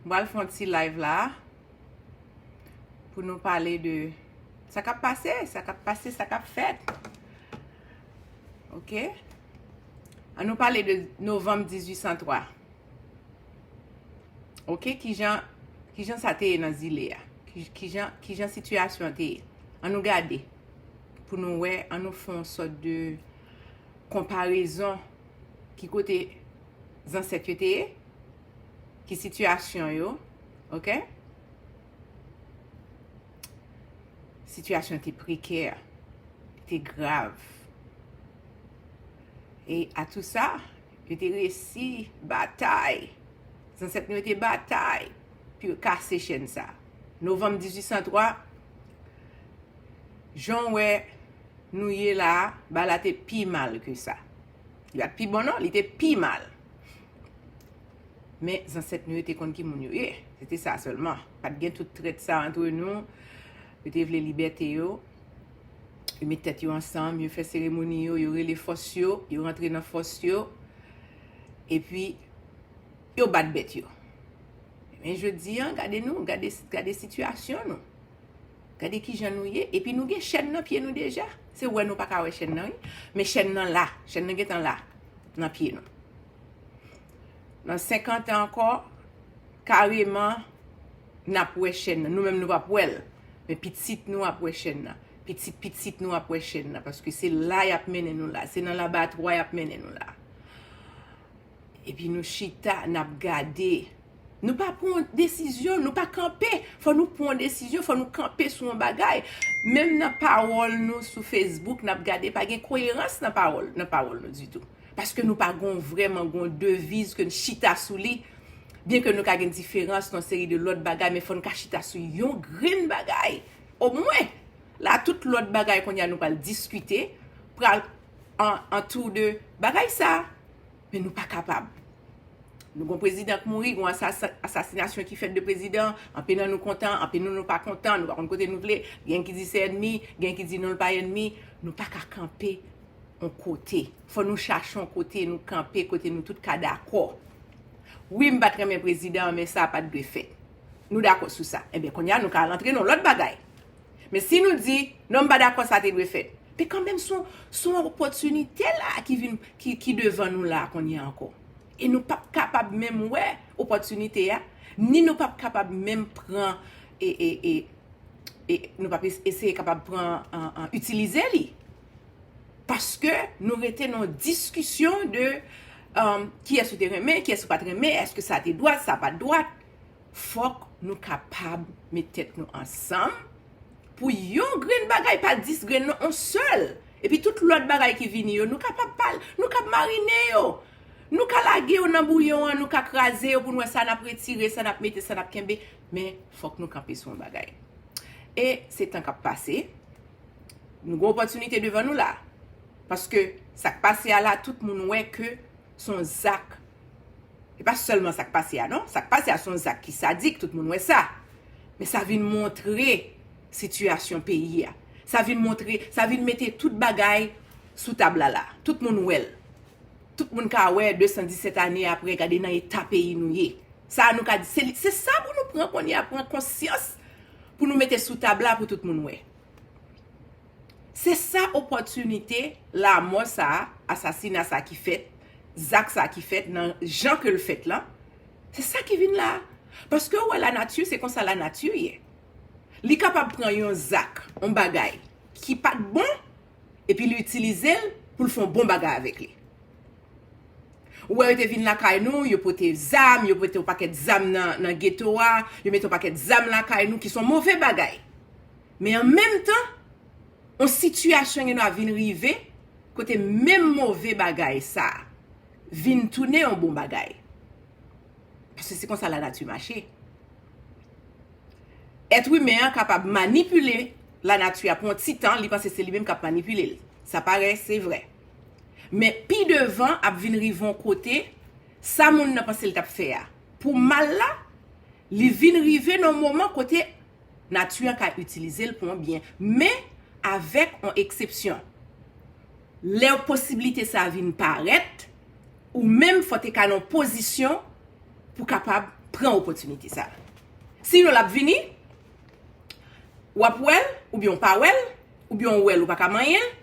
M pral fè yon ti live la a pou nou pale de sa k ap pase, sa k ap pase, sa k ap fèt. Ok? An nou pale de novanm 1803. Ok? Ki jan sa te ye nan zile a? Ki jan sitiyasyon an te ye? An nou gade pou nou wè, an nou fè yon sòt de konparezon ki kote zansèt yo te ye. ki sitiyasyon yo, ok, sitiyasyon te prekè, te grav, e a tou sa, yo te resi batay, zansèt nou yo te batay, pou yo kase chèn sa, novanm 1803, jan wè nou ye la, ba la te pi mal ke sa, li bat pi bon non, li te pi mal. Men, zansèt nou yo te konn ki moun yo ye. Se te sa sèlman. Pat gen tout trèt sa antre nou. Yo te vle libète yo. Yo met tèt yo ansanm. Yo fè seremoni yo. Yo rele fòs yo. Yo rantre nan fòs yo. E pi, yo bat bèt yo. Men jodi an, gade nou. Gade sitiyasyon nou. Gade ki jan nou ye. E pi nou gen chèn nan pye nou deja. Se wè nou pa ka wè chèn nan wi. Men chèn nan la. Chèn nan gen tan la. nan pye nou. Nan 50 an ankò, kareman, n ap wè chèn nan. Nou menm nou pa p wè l, men pitit nou ap wè chèn nan. Pitit pitit nou ap wè chèn nan, paske se la y ap mennen nou la. Se nan labatwa y ap mennen nou la. Epi nou chita, n ap gade. Nou pa pran yon desizyon, nou pa kanpe. Fò nou pran yon desizyon, fò nou kanpe sou yon bagay. Menm nan pawòl nou sou Facebook, n ap gade pa gen koyerans nan pawòl nou ditou. Paske nou pa gon vrèman gon deviz ke n chita sou li. Byen ke nou ka gen diferans nan seri de lòt bagay, men fò n ka chita sou yon grenn bagay omwen. La tout lòt bagay kounye a nou pral diskite pral antou de bagay sa. Men nou pa kapab. Nou gon prezidan k mouri, gon asasinasyon ki fèt de prezidan, anpe nan nou kontan, anpe nan nou pa kontan, nou pa konn kote nou vle, gen ki di se ènmi, gen ki di non l pa ènmi, nou pa ka kanpe yon kote. Fò nou chache yon kote nou kanpe, kote nou tout ka dakò. Wi m pa t renmen prezidan an men sa pa t dwe fèt. Nou dakò sou sa. Enben kounya nou ka rantre nan yon lòt bagay. Men si nou di, non m pa dakò sa te dwe fèt. Men kanmenm son son opòtinite la ki vin ki devan nou la kounye a ankò. E nou pap kapab menm wè opòtinite a, ni nou pap kapab menm pran e e e e nou pap eseye kapab pran an itilize li. Paske nou rete nan diskisyon de kiyès ou te renmen, kiyès ou pat renmen, èske sa te dwat, sa pat dwat. fòk nou kapab met tèt nou ansanm pou yon grenn bagay pa 10 grenn non on sèl epi tout lòt bagay ki vini yo nou kapab pal nou kab marine yo nou ka lage yo nan bouyon an nou ka kraze yo pou nou wè sa nap retire sa nap mete sa nap kenbe men fòk nou kanpe sou yon bagay e se tan kap pase nou gen opòtinite devan nou la paske sak pase a la tout moun wè ke son zak, e pa sèlman sak pase a non, sak pase a son zak ki sadik, tout moun wè sa, men sa vin montre sitiyasyon peyi a, sa vin montre, sa vin mete tout bagay sou tab la la, tout moun wè l, tout moun ka wè 217 ane apre gade nan eta peyi nou ye, sa nou ka di, se sa pou nou pran kounye a, pran konsyans pou nou mete sou tab la pou tout moun wè. Se sa opòtinite lamò sa a, asasina sa a ki fèt, zak sa a ki fèt nan jan ke l fèt lan, se sa ki vin la a. Paske ou wè lanati, se konsa lanati ye. Li kapab pran yon zak, yon bagay ki pa t bon, epi li itilize l pou l fè yon bon bagay avèk li. Ou wè yo te vin lakay nou, yo pote zam, yo mete yon pakèt zam nan geto a, yo mete yon pakèt zam lakay nou ki s on move bagay. Men an menm tan, yon sitiyasyon gendwa vin rive kote menm move bagay sa a vin tounen yon bon bagay. Paske se konsa lanati mache. Èt imen an kapab manipile lanati a pou yon ti tan, li panse se li menm k ap manipile l. Sa parè, se vrè. Men pi devan ap vin rive yon kote, sa moun nan panse l t ap fè a pou mal la, Li vin rive nan yon moman kote nati an ka itilize l pou yon byen. Men, avèk yon eksepsyon. Lè posibilite sa a vin parèt, ou menm fò te ka nan yon pozisyon pou kapab pran opòtinite sa a. Sinon l ap vini, w ap wè l, oubyen ou pa wè l, oubyen ou wè l ou pa ka manyen l.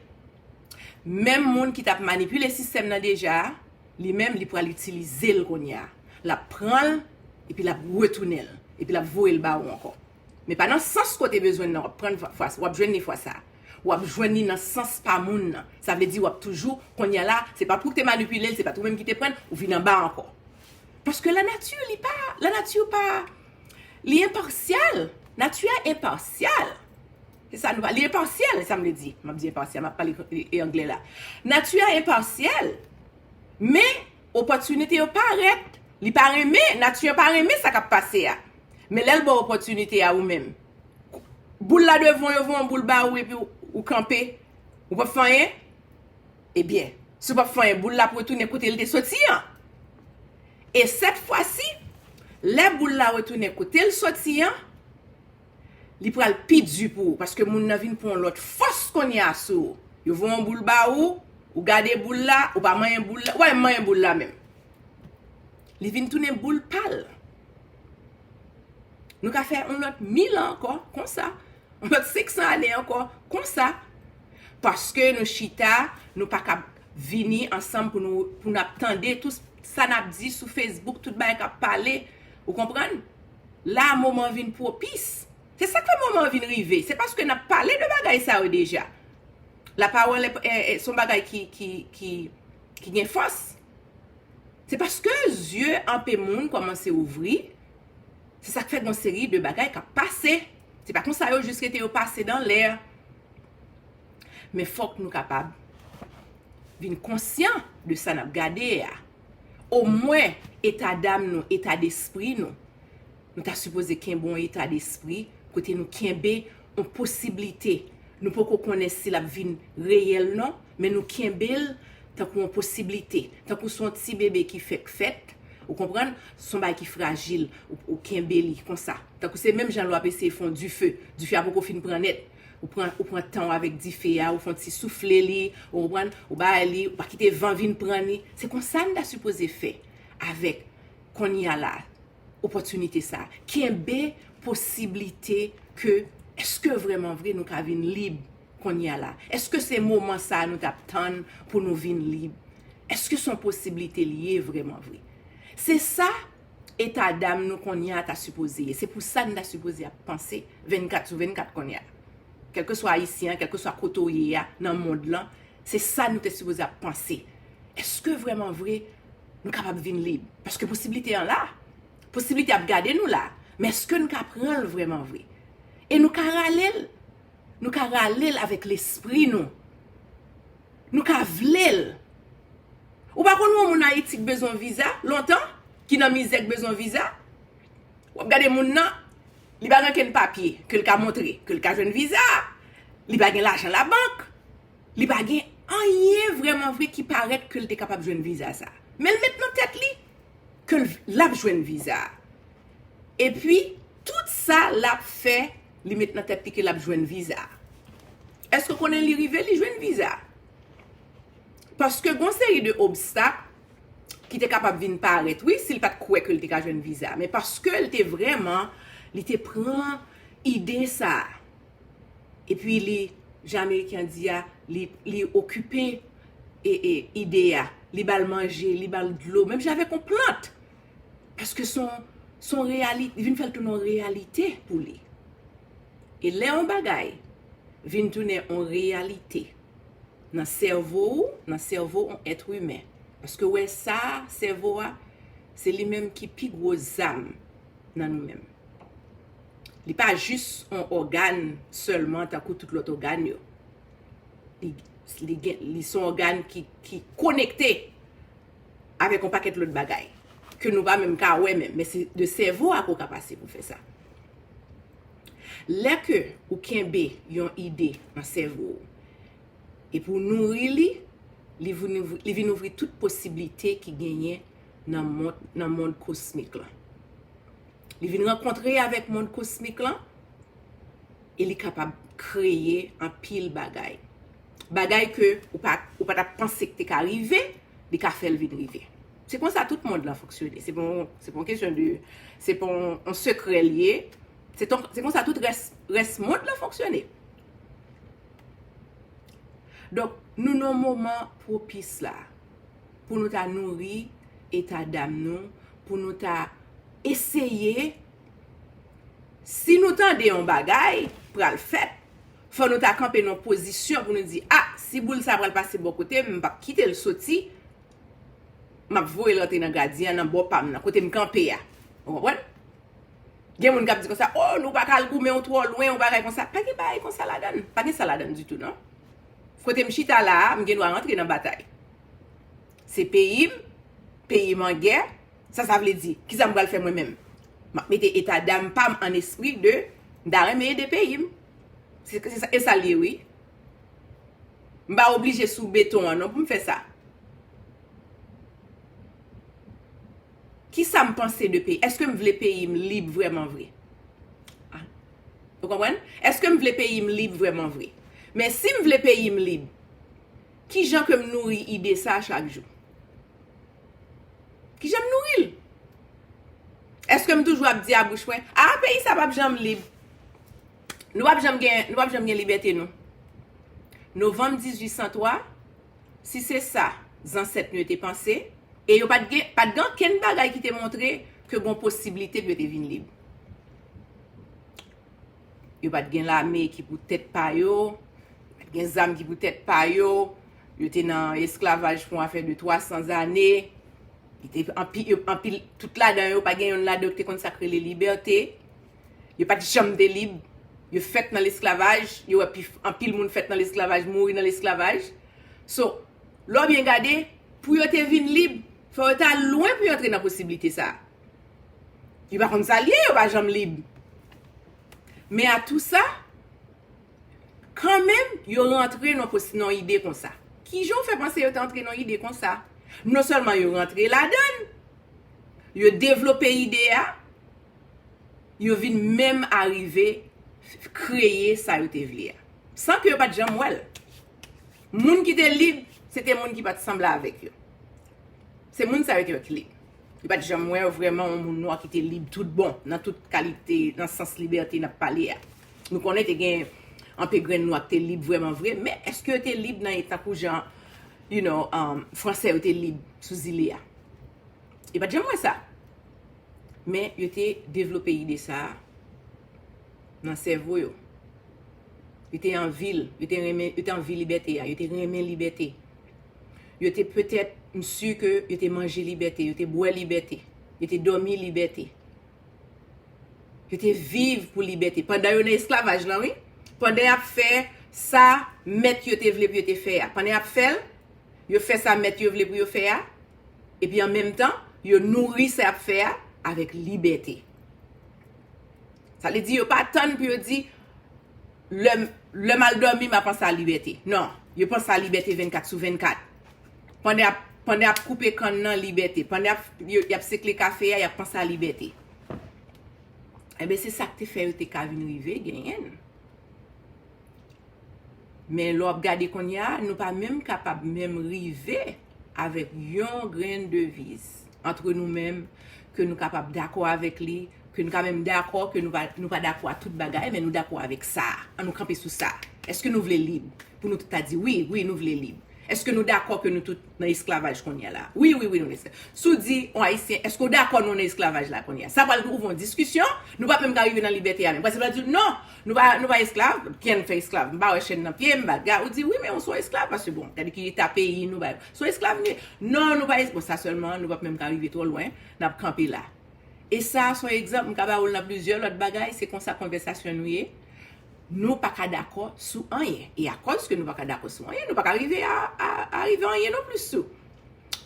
Menm moun ki t ap manipile sistèm nan deja a. Li menm li pral itilizel kounye a. Lap pranl epi lap retounenl. Epi lap voyel ba ou ankò. Men pa nan sans kote bezwenn nan wap prann fwa sa. Wap jwenn li fwa sa. Wap jwenn li nan sans pa moun nan. Sa vle di wap toujou kounye a la se pat ou ki te manipilel, se pat ou menm ki te prann, ou vin anba ankò. Paske la nati li pa, la nati pa li enpasyal. Nati a enpasyal. E sa nou pa. Li enpasyèl, e sa m vle di. M ap di enpasyèl, m ap pale angle la. Nati a enpasyèl, men opòtinite yo parèt. Li pa renmen, nati a pa renmen sa k ap pase a. Men lè l ba w opòtinite a ou menm. Boul la devan, yo voye yon boul ba ou epi ou kanpe. Ou pap fè anyen? Ebyen, si w pap fè anyen, boul la ap retounen kote l te soti an. E sèt fwa si, lè boul la retounen kote l soti an. li pral pi di pou ou paske moun nan vin pran yon lòt fòs kounye a sou ou. Yo voye yon boul ba ou, ou gade boul la, ou pa manyen boul la, wè m manyen boul la menm. Li vin tounen boul pa l. Nou ka fè yon lòt mil an ankò konsa, yon lòt seksan ane ankò konsa, paske nou chita, nou pa kab vini ansanm pou nou ap tande tout sa n ap di sou fesbouk, tout bagay k ap pale, ou konprann? La a moman an vin pwopis. Se sa k fè moman an vin rive. Se paske n ap pale de bagay sa yo deja. Lapawòl se yon bagay ki gen fòs. Se paske zye anpe moun kòmanse ouvri, se sa k fè gen yon seri de bagay k ap pase. Se pa konsa yo jis rete yo pase dan lè. Men fòk nou kapab vin konsyan de sa n ap gade a. Omwen etadam nou, etadespri nou, nou ta sipoze kenbe yon etadespri kote nou kenbe yon posiblite. Nou poko konnen si l ap vin reyèl non, men nou kenbe l tankou yon posiblite. Tankou se yon ti bebe ki fèk fèt, ou konprann, se yon bagay ki frajil, ou kenbe li konsa. Tankou se menm jan lè w ap eseye fè yon dife, dife a poko fin pran nèt. Ou pran, ou pran tan w avèk dife a, ou fè yon ti soufle li, ou konprann, ou bay li, ou pa kite van vin pran li. Se konsa n ta sipoze fè avèk kounye a la, opòtinite sa a. Kenbe posiblite ke èske vrèman vre nou ka vin lib kounye a la? Èske se moman sa a nou t ap tann pou nou vin lib? Èske se yon posiblite li ye vrèman vre? Se sa eta dam nou kounye a ta sipoze ye. Se pou sa n ta sipoze ap panse 24 sou 24 kounye a. Kèlkeswa Ayisyen an, kèlkeswa kote w ye a nan mond lan, se sa nou te sipoze ap panse. Eske vrèman vre nou kapab vin lib? Paske posiblite an la. Posiblite ap gade nou la. Men eske nou ka pran l vrèman vre? E nou ka rale l. Nou ka rale l avèk lespri nou. Nou ka vle l. Ou pa konn yon moun ayiti k bezwen viza lontan ki nan mizè k bezwen viza wap gade moun nan li pa gen kenn papye ke l ka montre ke l ka jwenn viza li pa gen lajan labank li pa gen anyen vrèman vre ki parèt ke l te kapab jwenn viza sa men l met nan tèt li ke l ap jwenn viza epi tout sa l ap fè Li met nan tèt li ke lap jwenn viza. Èske w konnen li rive li jwenn viza? Paske gon seri de obstak ki te kapab vin parèt wi si l pat kwè ke l te ka jwenn viza. Men paske l te vrèman, li te pran ide sa. E pi li, jan ameriken an di a, li okipe ide a. Li ba l manje, li ba l dlo. Menm jan avèk yon plant. Paske son, son reyali, li vin fè l tounen yon reyalite pou li. E lè yon bagay vin tounen yon reyalite nan sèvo ou, nan sèvo yon èt imen, èske w wè sa a, sèvo a, se li menm ki pi gwo zam nan nou menm. Li pa jis yon ògàn sèlman tankou tout lòt ògàn yo. Li, li gen, li se yon ògàn ki, ki konekte. avèk yon pakèt lòt bagay ke nou pa menm ka wè menm, men se de sèvo a ke w ka pase pou fè sa. Lè ke ou kenbe yon ide nan sèvo ou, epi ou nouri li, li vin ouvri tout posiblite ki genyen nan mond kosmik lan. Li vin rankontre avèk mond kosmik lan, e li kapab kreye anpil bagay. bagay ke ou pa ou pa tap panse ki te ka rive li ka fèl vin rive se konsa tout mond lan fonksyone se pon se pon kesyon de se pon on sekrè li ye se ton se konsa tout rès rès mond lan fonksyone donk nou nan moman pwopis la pou nou ta nouri eta dam nou pou nou ta eseye si nou tande on bagay pral fèt Fò nou ta kanpe nan yon pozisyon pou nou di, a, si boul sa pral pase bò kote m, m p ap kite l soti, m ap voye l antre nan gadyen an, nan bò pa m nan, kote m kanpe a. Ou konprann? Gen moun k ap di konsa, o, nou pa ka al goumen, ou twò lwen, ou bagay konsa. Pa gen bagay konsa ladan l. Pa gen sa ladan l ditou non. Kote m chita la a, m gen dwa rantre nan batay. Se peyi m, peyi m an gè. Sa sa vle di? Kisa m pral fè mwen menm? M ap mete eta dam pa m an espri de m ta renmen ede peyi m. E sa l ye wi. M pa oblije sou beton an non pou m fè sa. Kisa m panse de peyi? Eske m vle peyi m lib vreman vre? Ou konprann? Eske m vle peyi m lib vreman vre? Men si m vle peyi m lib, kijan ke m nouri ide sa chak jou? Ki jan m nouri l? Eske m toujou ap di a bouch mwen, a a peyi sa pap janm lib. Nou pap janm gen, nou pap janm gen libète nou. Novanm 1803, si se sa zansèt nou yo te panse, e yo pat gen, pat gen ankenn bagay ki te montre ke gon posiblite pou yo te vin lib. Yo pat gen lame ki pou tèt pa yo, yo pat gen zam ki pou tèt pa yo, Yo te nan esklavaj pou afè de 300 zane. Yo te anpi, anpi, tout ladan yo, pa gen yonn ladan yo ki te konn sa k rele libète. Yo pa t janm te lib. Yo fèt nan lesklavaj. Yo wè pi, anpil moun fèt nan lesklavaj, mouri nan lesklavaj. So, lè w byen gade, pou yo te vin lib, fò yo ta lwen pou yo antre nan posiblite sa a. Yo pa konn sa l ye, yo pa janm lib. Men a tou sa. Kanmenm, yo rantre nan ide konsa. Ki jan w fè panse yo te antre nan ide konsa? Non sèlman yo rantre ladan l, yo devlope ide a, yo vin menm arive kreye sa yo te vle a. San ke yo pa t janm wè l. Moun ki te lib, se te moun ki pa t sanble avèk yo. Se moun sa yo te rèt lib. Yo pa t janm wè vreman yon moun nwa ki te lib tout bon, nan tout kalite, nan sans libète n ap pale a. Nou konnen te gen anpe grenn nwa k te lib vrèman vre, men èske yo te lib nan tankou jan you know fransè yo te lib sou zile a? Yo pa t janm wè sa. Men yo te devlope ide sa a nan sèvo yo. Yo te anvi l. Yo te renmen, yo te anvi libète a. Yo te renmen libète. Yo te petèt, m si ke yo te manje libète. Yo te bwè libète. Yo te dòmi libète. Yo te viv pou libète. Pandan yo nan esklavaj lan wi. Pandan y ap fè sa mèt yo te vle pou yo te fè a. Pandan y ap fè l, yo fè sa mèt yo vle pou yo fè a. Epi an menm tan, yo nouri sa y ap fè a avèk libète. Sa vle di yo pa tann pou yo di, lè m al dòmi m ap panse a libète. Non, yo panse a libète 24 sou 24. Pande ap pande ap koupe kann nan libète. Pande ap y ap sekle kafe a y ap panse a libète. Enben se sa k te fè yo te ka vin rive genyen l. Men lè w ap gade kounye a, nou pa menm kapab menm rive avèk yon grenn deviz antre nou menm ke nou kapab dakò avèk li ke nou ka menm dakò ke nou pa dakò a tout bagay men nou dakò avèk sa a, an nou kanpe sou sa a. Eske nou vle lib? Pou nou tout ta di wi, wi nou vle lib. Eske nou dakò ke nou tout nan esklavaj kounye a la? Wi, wi, wi nou nan esklavaj. Si w di yon Ayisyen, eske w dakò nou nan esklavaj la kounye a? Sa pral ouvri yon diskisyon, nou pap menm ka rive nan libète a menm. Paske l pral di w, non, nou pa, nou pa esklav, kiyè nou fè esklav? M pa wè chèn nan pye m, baga. Ou di, wi men ou son esklav paske bon, gade ki eta peyi nou, bagay. Son esklav nou ye. Non, nou pa es, bon sa sèlman nou pap menm ka rive twò lwen, n ap kanpe la. E sa a son egzanp, m ka ba ou l nan plizyè lòt bagay, se konsa konvèsasyon nou ye, nou pa ka dakò sou anyen. E akòz ke nou pa ka dakò sou anyen, nou pa ka rive a arive anyen non plis tou.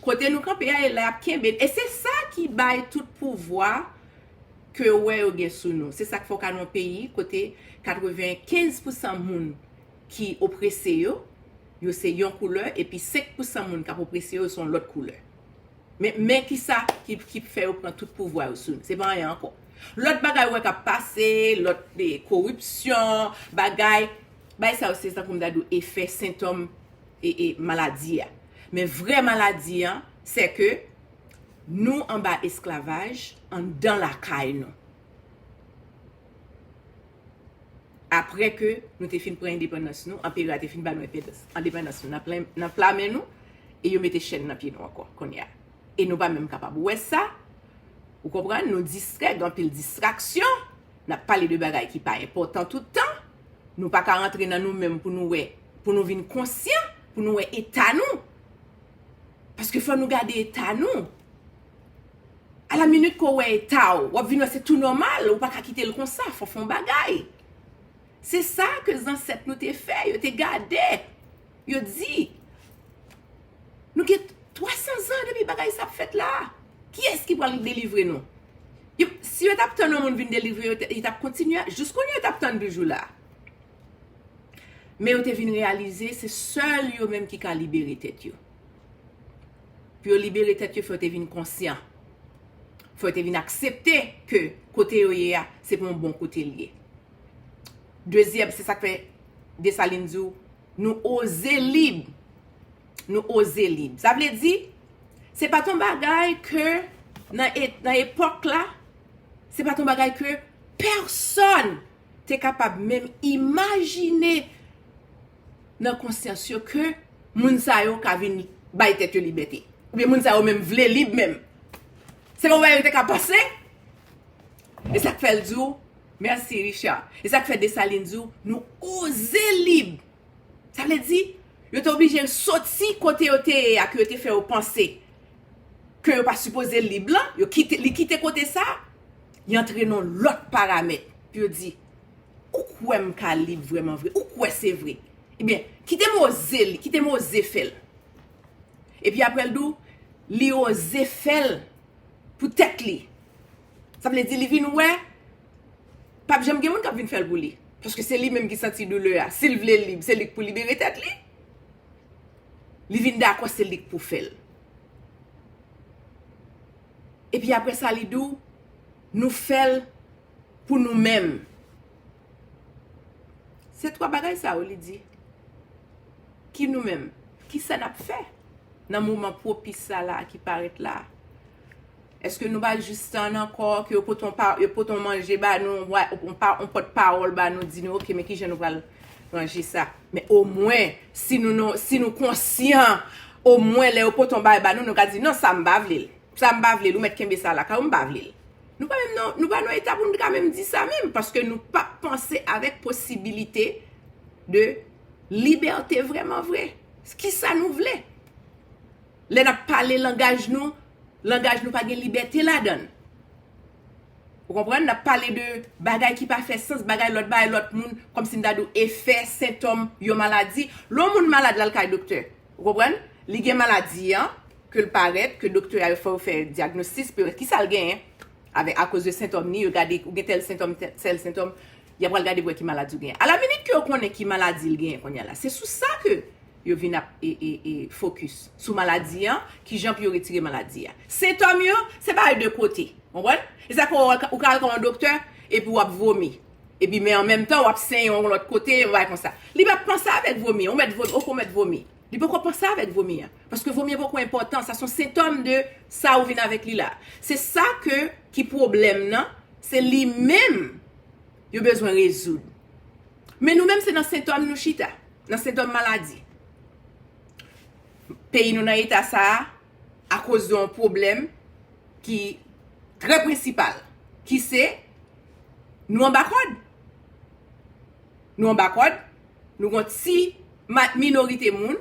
Kote nou kanpe a e la y ap kenbe n. E se sa ki bay tout pouvwa ke ou wè yo gen sou nou. Se sa k fè ou ka nan yon peyi kote 95 pousan moun ki oprese yo, yo se yon koulè, epi 5 pousan moun k ap oprese yo, yo se yon lòt koulè. Men kisa ki fè yo pran tout pouvwa yo sou nou. Se pa anyen ankò. Lòt bagay ou wè k ap pase, lòt koripsyon, bagay, bagay sa yo se tankou m ta di ou efè, sentòm maladi a. Men vrè maladi an, se ke nou anba esklavaj anndan lakay nou. apre ke nou te fin pran endepandans nou, anperè a te fin ba nou endepandans nou nan pla men nou, e yo mete chèn nan pye nou ankò kounye a. E nou pa menm kapab wè sa, ou konprann, nou distrè, gen anpil distraksyon, n ap pale de bagay ki pa enpòtan tout tan, nou pa ka rantre nan nou menm pou nou wè, pou nou vin konsyan, pou nou wè eta nou, paske fò nou gade eta nou. A la minit ke w wè eta w, w ap vin wè se tou nòmal, ou pa ka kite l konsa, fò w fè yon bagay. Se sa ke zansèt nou te fè, yo te gade, yo di, Nou gen twasan zan depi bagay sa ap fèt la a, kiyès ki pral delivre nou? Si yo t ap tann yon moun vin delivre yo, yo t ap kontinye, jis kounye a yo t ap tann toujou la a. Men yo te vin reyalize se sèl yo menm ki ka libere tèt yo. Pou yo libere tèt yo, fè yo te vin konsyan. Fè yo te vin aksepte ke kote yo ye a, se pou yon bon kote li ye. Dezyèm, se sak fè Desalin di w, nou oze lib. Nou oze lib. Sa vle di, se pa t yon bagay ke nan epòk la, se pa t yon bagay ke pèsòn. te kapab menm imajine nan konsyans yo ke moun sa yo ka vin bay tèt yo libète. Oubyen moun sa yo menm vle lib menm. Se pa w bagay yo te ka panse? E sa k fè l di w, mèsi Richard, e sa k fè Dessalines di w, nou oze lib! Sa vle di, yo te oblije l soti kote yo te ye a ke yo te fè yo panse ke yo pa sipoze lib lan, yo kite, li kite kote sa, li antre nan yon lòt paramèt. Pou yo di, ou kwè m ka lib vrèman vre? Ou kwè se vre? Ebyen, kite m oze li, kite m oze fè l. Epi apre l di w, li oze fè l pou tèt li. Sa vle di li vin wè pap janm gen moun kap vin fè l pou li. Paske se li menm ki santi doulè a. Si l vle lib, se li k pou libere tèt li. Li vin dakò se li k pou fè l. E pi apre sa li di w, nou fè l pou nou menm. Se twa bagay sa yo li di. Ki nou menm? Ki sa nap fè nan moman pwopis sa la ki parèt la? Eske nou pa jis tann ankò ke yo pote yon pa, yo pote yon manje ba nou, yon vwa, yon pa, yon pòt pawòl ba nou di nou ok men kijan nou pral ranje sa. Men omwen si nou nan, si nou konsyan omwen lè yo pote yon bagay ba nou, nou ka di non sa m pa vle l. Sa m pa vle l, ou mèt kenbe sa lakay ou m pa vle l. Nou pa menm nan, nou pa nan eta pou nou ta menm di sa menm paske nou pa panse avèk posibilite de libète vrèman vre. Kisa nou vle? Lè n ap pale langaj nou Langaj nou pa gen libète ladan l. Ou konprann? N ap pale de bagay ki pa fè sans, bagay lòt bay lòt moun, kòmsi m ta di ou efè, sentòm yon maladi. Lè yon moun malad l al kay doktè. Ou konprann? Li gen maladi an, ke l parèt, ke doktè a yo fè yo fè dyagnostis pou yo wè ki sa l genyen. Avè akoz de sentòm ni, yo gade ou gen tèl sentòm, tèl sentòm, y ap pral gade pou wè ki maladi ou genyen. Alaminit ke yo konnen ki maladi l genyen kounye a la. Se sou sa ke yo vin ap fokis sou maladi an, kijan pou yo retire maladi a. Sentòm yo, se bagay de kote. Konprann? E sa fè ou ka al ka yon doktè, epi w ap vomi. Epi men an menm tan, w ap senyen yon lòt kote, yon bagay konsa. Li pa panse avèk vomi an. Ou mèt vomi, ok ou mèt vomi. Li poko panse avèk vomi an. Paske vomi an poko enpòtan. Sa se yon sentòm de sa ou vin avèk li la. Se sa ke ki pwoblèm nan, se li menm. yo bezwen rezoud. Men nou menm se nan sentòm nou chita, nan sentòm maladi. Peyi nou nan eta sa a, akoz de yon pwoblèm ki trè prensipal, ki se, nou anba kòd. Nou anba kòd, nou gon ti minorite moun,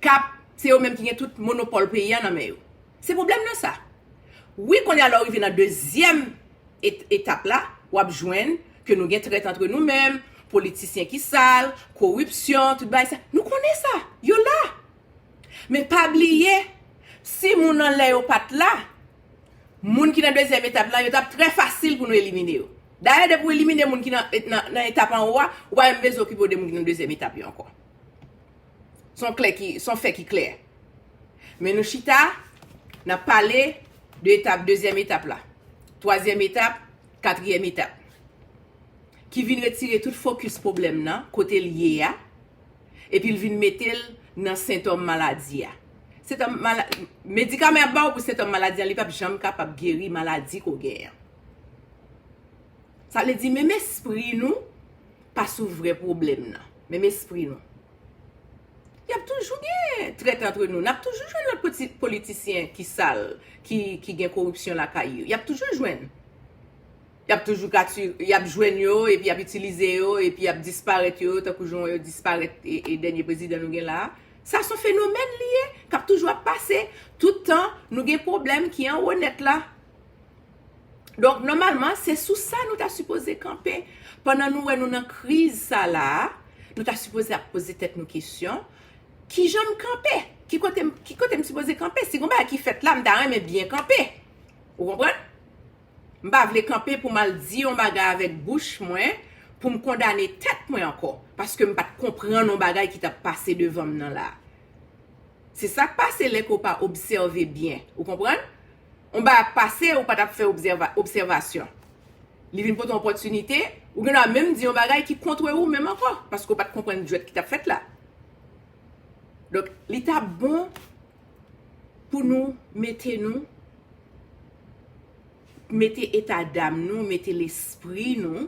kap, se yo menm ki gen tout monopòl peyi a nan men yo. Se pwoblèm nan sa. Wi kounye a lè ou rive nan dezyèm. etap la, w ap jwenn ke nou gen trèt antre nou menm, politisyen ki sal, koripsyon, tout bagay sa. Nou konnen sa. Yo la. Men pa bliye, si moun anlè yo pa t la, moun ki nan dezyèm etap la, yo t ap trè fasil pou nou elimine yo. Dayè, depi w elimine moun ki nan etap anwo a, ou pa menm bezwen okipe w de moun ki nan dezyèm etap yo ankò. Son klè ki, son fè ki klè. Men nou chita, nap pale de etap, dezyèm etap la. Twazyèm etap, katriyèm etap. Ki vin retire tout fokis pwoblèm nan, kote l ye a, epi l vin mete l nan sentòm maladi a. Sentòm, mala, medikaman yap ba w pou sentòm maladi an, li pap janm kapab geri maladi ke w gen an. Sa vle di menm espri nou. pa sou vrè pwoblèm nan. Menm espri nou. Y ap toujou gen trèt antre nou. N ap toujou jwenn lòt poti politisyen ki sal, ki gen koripsyon lakay yo. Y ap toujou jwenn. Y ap toujou ka ti, y ap jwenn yo, epi y ap itilize yo, epi y ap disparèt yo, tankou jan w wè yo disparèt e dènye prezidan nou gen la a. Sa s on fenomèn li ye, k ap toujou ap pase. Tout tan, nou gen pwoblèm ki anwo nèt la. Donk nòmalman se sou sa nou ta sipoze kanpe pandan nou wè nou nan kriz sa la a, nou ta sipoze ap poze tèt nou kesyon, kijan m kanpe? Ki kote m, ki kote m sipoze kanpe? Si gon bagay ki fèt la, m ta renmen byen kanpe. Ou konprann? M pa vle kanpe pou m al di yon bagay avèk bouch mwen pou m kondane tèt mwen ankò, paske m pa t konprann yon bagay ki t ap pase devan m nan la a. Se sa k pase lè ke w pa obsève byen. Ou konprann? yon bagay ap pase ou pa tap fè obsèvasyon. Li vin pote yon opòtinite, ou gen dwa menm di yon bagay ki kontre ou menm ankò, paske ou pat konprann jwèt ki tap fèt la. Donk, li ta bon pou nou mete nou, mete eta dam nou, mete lespri nou,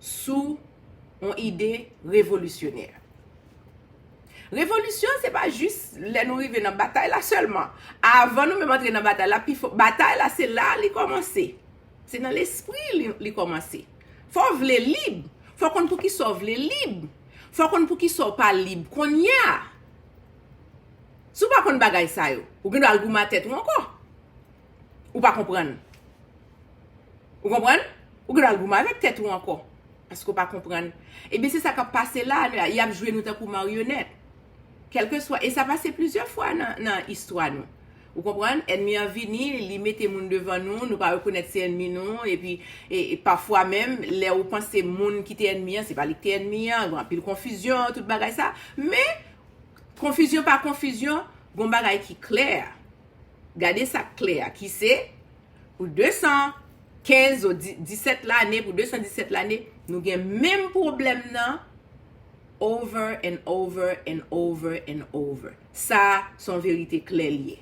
sou yon ide revolisyonè. Revolisyon se pa jis lè nou rive nan batay la sèlman. Avan nou menm antre nan batay la, batay la se la li kòmanse. Se nan lespri li kòmanse. Fò w vle lib, fò w konn pou ki sa w vle lib, fò w konn pou ki sa w pa lib kounye a. Si w pa konn bagay sa yo, ou gen dwa al goumen a tèt ou ankò. Ou pa konprann. Ou konprann? Ou gen dwa al goumen avèk tèt ou ankò. Paske ou pa konprann. Ebyen se sa k ap pase la a. Y ap jwe nou tankou maryonèt. Kèlkeswa. E sa pase plizyè fwa nan istwa nou. Ou konprann? Ènmi an vini, li mete moun devan nou, nou pa rekonèt se ènmi nou. Epi, pafwa menm, lè ou panse moun ki te ènmi an, se pa li ki te ènmi an. Gen anpil konfizyon, tout bagay sa. Men, konfizyon pa konfizyon, gen yon bagay ki klè. Gade sa k klè a ki se, pou 215 ou 17 lane, pou 217 lane, nou gen menm pwoblèm nan over and over and over and over. Sa a s on verite klè l ye.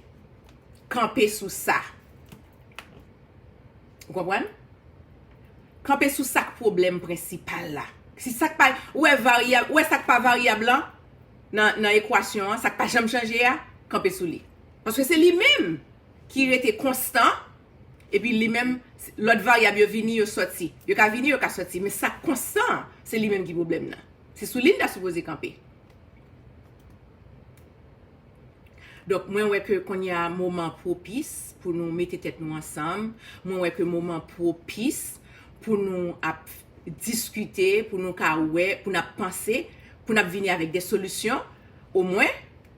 Kanpe sou sa. Ou konprann? Kanpe sou sa k pwoblèm prensipal la. Si sa k pa, ou wè varyab, ou wè sa k pa varyab lan? nan ekwasyon an, sa k pa janm chanje a, kanpe sou li. Paske se li menm ki rete konstan, epi li menm, lòt varyab yo vini, yo sòti. Yo ka vini, yo ka sòti, men sa k konstan an, se li menm ki pwoblèm nan. Se sou li n ta sipoze kanpe. Donk, mwen wè ke kounye a moman pwopis pou nou mete tèt nou ansanm. Mwen wè ke moman pwopis pou nou ap. diskite, pou nou ka wè, pou n ap panse, pou n ap vini avèk de solisyon, omwen,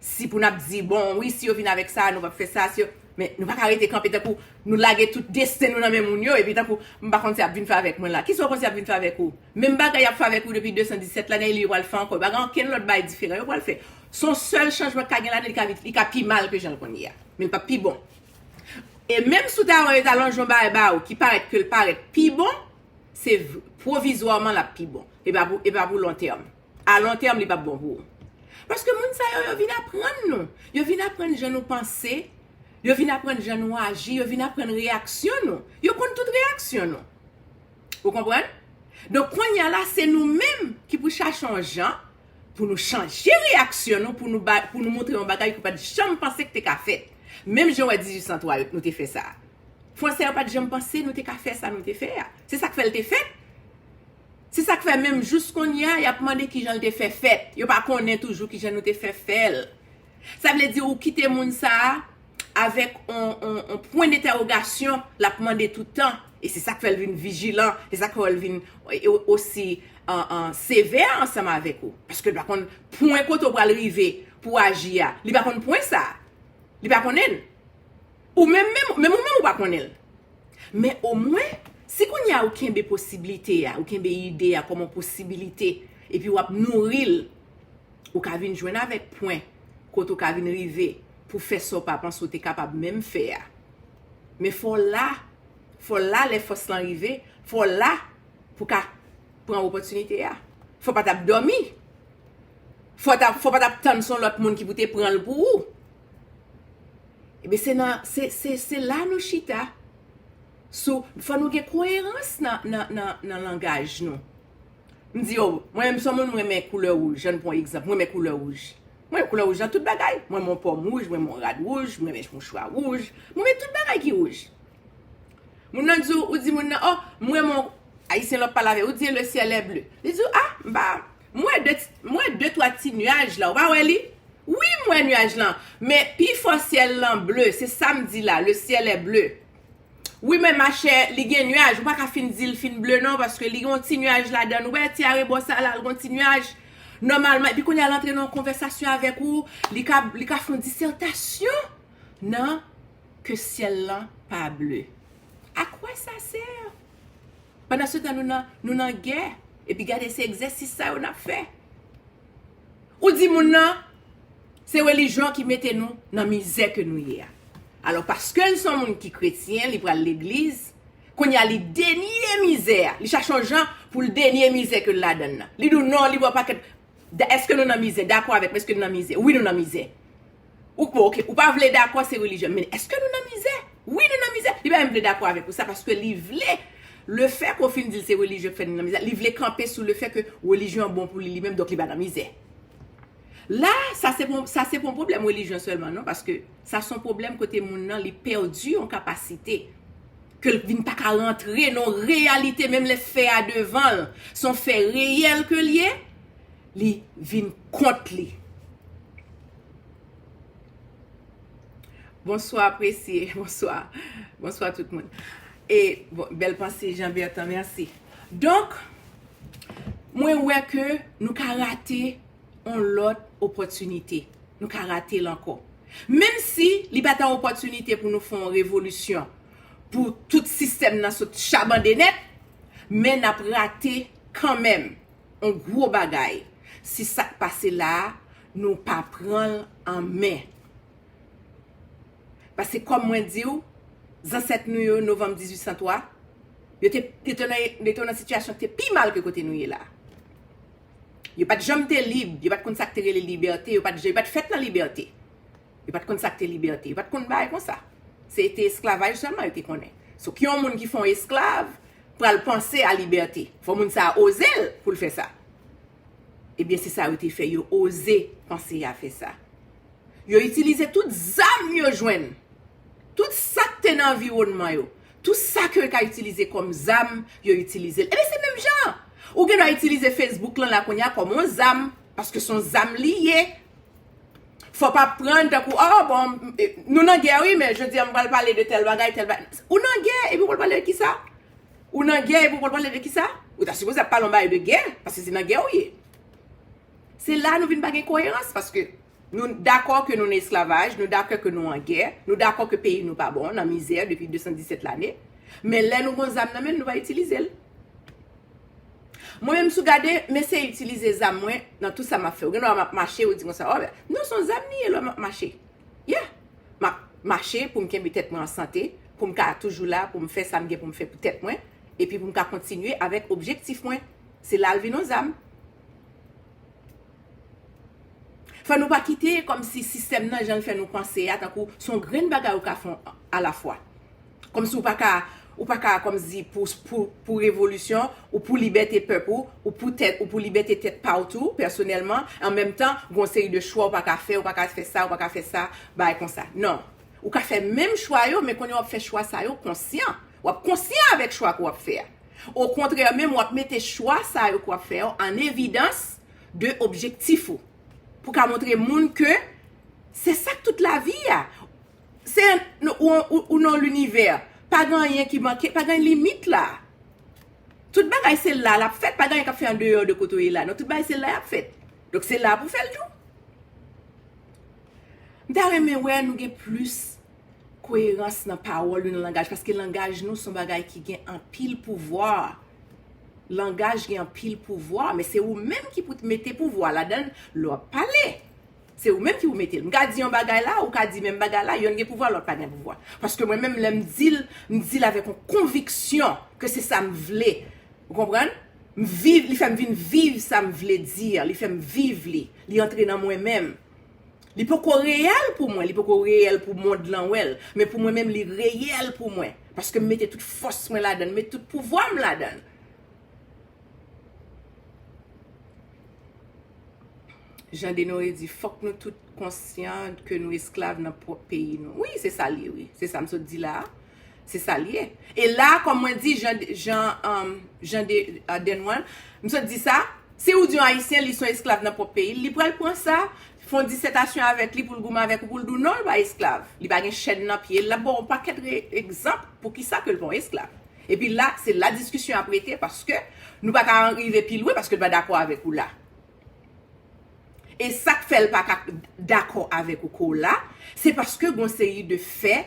si pou n ap di, bon, wi, si yo vin avèk sa, nou p ap fè sa, si yo, men, nou pa ka rete kanpe tankou nou lage tout desten nou nan men moun yo, epi tankou, m pa konn sa y ap vin fè avèk mwen la. Kisa ou panse y ap vin fè avèk ou? Menm bagay y ap fè avèk ou depi 217 lane, li yo pral fè ankò. Yo pa gen okenn lòt bagay diferan yo pral fè. Se yon sèl chanjman k ka gen ladan l, li ka pi mal ke jan l konn ye a, men li p ap pi bon. E menm si w ta wè yo ta lonje yon bagay ba ou ki parèt ke l parèt pi bon, se pwovizwaman l ap pi bon. E pa pou lontèm. A lontèm, li p ap bon pou ou. Paske moun sa yo, yo vin aprann nou. Yo vin aprann jan nou panse. Yo vin aprann jan nou aji. Yo vin aprann reyaksyon nou. Yo konn tout reyaksyon nou. Ou konprann? Donk, kounye a la, se nou menm ki pou chache yon jan pou nou chanje reyaksyon nou, pou nou montre yon bagay ki w pa t janm panse ki te ka fèt. Menm jan w wè 1803 yo, nou te fè sa a. Fransè yo pa t janm panse nou te ka fè sa nou te fè a. Se sa k fè l te fèt. Se sa k fè menm jous kounye a y ap mande ki jan l te fè fèt. Yo pa konnen toujou ki jan nou te fè fè l. Sa vle di ou kite moun sa a avèk yon pwen dentèwogasyon l ap mande tout tan. E se sa k fè l vin vijilan. Se sa k fè l vin osi sevè ansanm avèk ou. Paske l pa konn pwen kote ou pral rive pou w aji a. Li pa konn pwen sa a. Li pa konnen l. Ou menm menm, menm ou menm ou pa konnen l. Men omwen, si kounye a ou kenbe posiblite a, ou kenbe ide a kòm yon posibilite, epi w ap nouri l, ou ka vin jwenn avèk pwen kote ou ka vin rive pou w fè sa w pa panse ou te kapab menm fè a. Men fò w la, fò w la lè fòs lan rive, fò w la pou w ka pran opòtinite a. Fò w pa t ap dòmi, fò w pa t ap tann se yon lòt moun ki pou te pran l pou ou. Ebyen se nan, se la nou chita sou, fò nou gen koyerans nan langaj nou. M di yo, mwen menm son moun m renmen koulè wouj, an n pran egzanp, m renmen koulè wouj. Mwen renmen koulè wouj nan tout bagay, m renmen yon pòm wouj, m renmen yon rad wouj, m renmen mouchwa wouj, m renmen tout bagay ki wouj. Moun nan di w, ou di moun nan, oh, m renmen w, ayisyen lè w ap pale avè l, ou di e le ciel est bleu. Li di w, ah, m pa, M wè de m wè de twa ti nuaj la ou pa wè li? Wi m wè nuaj lan men pi fò syèl lan ble se sam di la le ciel est bleu wi men machè li gen nuaj ou pa ka fin dil fin ble non paske li gen yon ti nuaj ladann ou wè ti arebò sa la l gen yon ti nuaj nòmalman epi kounya l antre nan yon konvèsasyon avèk ou li ka li ka fon disètasyon nan ke syèl lan pa ble a quoi ça sert? Pandansetan nou nan nou nan gè epi gade se egzèsis sa yo nap fè. Ou di moun nan se relijyon ki mete nou nan mizè ke nou ye a. Alò paske l son moun ki kretyen li pral legliz kounye a li denye mizè a li chache yon jan pou l denye mizè ke l ladann nan. Li di w non li wè w pakèt Da, eske nou nan mizè? Dakò avèk mwen, eske nou nan mizè? Wi nou nan mizè. Ou, bon ok, ou pa vle dakò se relijyon, men eske nou nan mizè? Wi nou nan mizè. Li pa menm vle dakò avèk ou sa paske li vle le fè ke w fin di l se relijyon ki fè nou nan mizè, li vle kanpe sou le fè ke relijyon an bon pou li li menm donk li pa nan mizè. La, sa se pa, sa se pa yon pwoblèm relijyon sèlman non paske sa se yon pwoblèm kote moun nan li pèdi yon kapasite. ke l vin pa ka rantre nan yon reyalite menm lè fè a devan l se yon fè reyèl ke l ye, li vin kont li. Bonswa Aprèsye, bonswa, bonswa tout moun. E, bèl panse Jean Bertan, mèsi. Donk, mwen wè ke nou ka rate yon lòt opòtinite. Nou ka rate l ankò. Menm si li pa ta opòtinite pou nou fè yon revolisyon, pou tout sistèm nan sot chabande nèt, men n ap rate kanmenm yon gwo bagay si sa k pase la a nou pa pran l an men. Pase kòm mwen di w, zansèt nou yo novanm 1803, yo te nan sitiyasyon ki te pi mal ke kote nou ye la a. Yo pa t janm te lib, yo pa t konn sa k te rele libète, yo pa t yo pa t fèt nan libète. Yo pa t konn sa k te libète, yo pa t konn bagay konsa. Se te esklavaj sèlman yo te konnen. So ki yon moun ki fè yon esklav pral panse a libète? Fò moun sa a oze l pou l fè sa. Ebyen se sa yo te fè, yo oze panse a fè sa. Yo itilize tout zam yo jwenn, tout sa k te nan anviwònman yo, Tout sa ke yo ka itilize kòm zam, yo itilize l. Enben se menm jan! Ou gen dwa itilize Facebook lan la kounye a kòm yon zam, paske se yon zam li ye. Fò w pa pran l tankou, oh bon, nou nan gè wi, men jodi a m pral pale de tèl bagay, tèl bagay. Ou nan gè, epi w pral pale de kisa? Ou nan gè epi w pral pale de kisa? Ou ta sipoze ap pale yon bagay de gè, paske se nan gè ou ye. Se la nou vin pa gen koyerans paske nou dakò ke nou nan esklavaj, nou dakè ke nou an gè, nou dakò ke peyi nou pa bon, nan mizè depi 217 lane, men lè nou gon zam nan men n nou pa itilize l. Mwen menm si w gade m eseye itilize zam mwen nan tout sa m ap fè. Ou gen dwa m ap mache ou di konsa o non son zam li ye lè m ap mache. Yeah! M ap mache pou m kenbe tèt mwen an sante, pou m ka toujou la, pou m fè sa m gen pou m fè pou tèt mwen, epi pou m ka kontinye avèk objektif mwen. Se la l vin yon zam. Fò nou pa kite kòm si sistèm nan jan l fè nou panse a tankou s on grenn bagay ou ka fè alafwa. Kòm si ou pa ka ou pa ka kòm si pou revolisyon ou pou libète pèp ou, ou pou tèt ou pou libète tèt pa w tou pèsonèlman an menm tan gen yon seri de chwa ou pa ka fè ou pa ka fè sa ou pa ka fè sa bagay konsa. Non. Ou ka fè menm chwa yo men kounye a w ap fè chwa sa yo konsyan. W ap konsyan avèk chwa ke w ap fè a. Okontrè menm, w ap mete chwa sa yo k w ap fè yo an evidans de objektif ou. Pou w ka montre moun ke se sa k tout lavi a. Se ou nan linivè. Pa gen anyen ki manke, pa gen limit la. Tout bagay se la l ap fèt. Pa gen anyen k ap fèt andeyò de kote ou ye la non. Tout bagay se la y ap fèt. Donk se la pou w fè l tou. M ta renmen wè nou gen plis. Koyerans nan pawòl yo nan langaj paske langaj nou son bagay ki gen anpil pouvwa langaj gen anpil pouvwa men se ou menm ki pou t mete pouvwa ladan l lè w ap pale se ou menm ki pou mete l m ka di yon bagay la ou ka di menm bagay la yonn gen pouvwa lòt pa gen pouvwa paske mwen menm lè m di l m di l avèk yon konviksyon ke se sa m vle ou konprann m viv li fè m vin viv sa m vle di a li fè m viv li li antre nan mwen menm Li poko reyèl pou mwen, li poko reyèl pou mond lan wè l, men pou mwen menm li reyèl pou mwen, paske m mete tout fòs mwen ladan l, m met tout pouvwa m ladan l. Jan Denore di, fòk nou tout konsyan ke nou esklav nan pwòp peyi nou. Wi, se sa l ye wi, se sa m sot di la a. Se sa li ye. E la, kòm mwen di, jan, jan, um, jan de, uh, Denwan, m sot di sa, si ou di yon Ayisyen li son esklav nan pwòp peyi l, li pral pran sa, fon disètasyon avèk li pou l goumen avèk ou pou l di w non l pa esklav, li pa gen chèn nan pye l, l ap ba w yon pakèt re, egzanp pou ki sa ke l pa yon esklav. Epi la, se la diskisyon ap rete paske nou pa ka rive pi lwen paske l pa dakò avèk ou la. E sak fèl paka dakò avèk ou kou la, se paske gon seri de fè